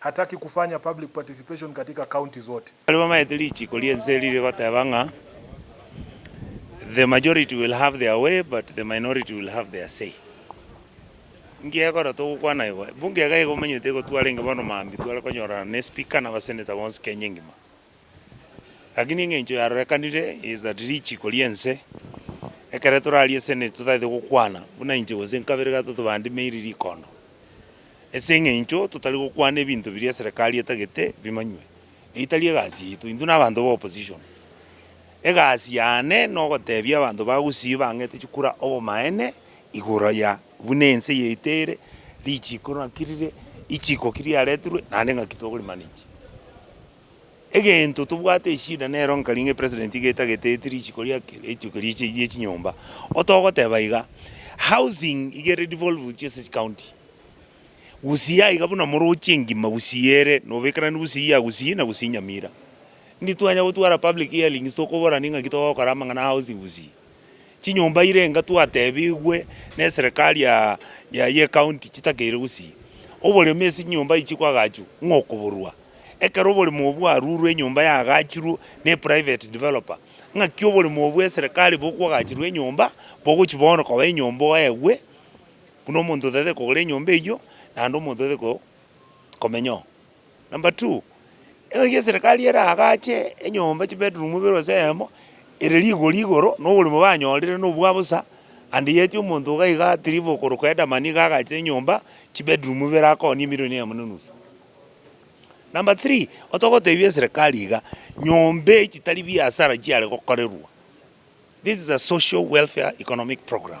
Hataki kufanya public participation katika county zote. Baria bamaete richiiko ri'ense riria rigoteba ng'a the majority will have their way but the minority will have their say. Inki egekora togokwana igo? Ebunge iga iga omanyete egotwarenge bono maambia tware konyorana ne speaker na abasenator bonsi Kenya engima. Lakini engencho yarorekanire is that richiko ri'ense, ekero torarie esene totagete gokwana, buna inche gose nkabere gatato bandimeiri rikondo, ase engencho totari gokwana ebinto biria eserekari etagete bimanywe, eye tari egasi yaito, intwe na abanto ba opposition, egasi yane nogotebia abanto ba Gusii bang'ete chikura obomaene igoro ya buna ense yaito ere, richiko naki rire, ichiko ki riaretirwe naende ng'aki tokori manage. Egento tobwate eshida nero nkari ng'a epresident iga etagete eti risiko riake rituko riche rie chinyomba. Otogoteba iga, housing iga ere devolved chiase chicounty. Gusii yaiga buna morochi engima gusii ere nobekerani gusii ya gusii na gusii nyamira. Ndi twanya gotwara public hearings tokoborani ng'aki togokora amang'ana a housing gusii. Chinyomba ire enga twatebigwe neserekari ya ya yecounty chitakeire gusii oboremu ase chinyomba echi kwagachu ng'a okoborua ekero oboremu obwo bwarurwe enyomba yagachurwe ne private developer ng'aki oboremu obwo eserekari bokwagachirwe enyomba bogochi bono koba enyomba oegwe buna omonto otagete kogora enyomba eywo naende omonto otagete ko komenyao. Number two, engaki eserekari eraagache enyomba chibedroom ibere gose eyemo, ere rigori igoro na oborimo banyorire na obwa bosa, and yet omonto iga iga at leave okorokwa Headerman nigo agacha enyomba chibedroom ibere akooni emilion eyemo na enusu. Number three, otogotebia eserekari iga, nyomba eye chitari biasara chiare gokorerwa, this is a social welfare economic program.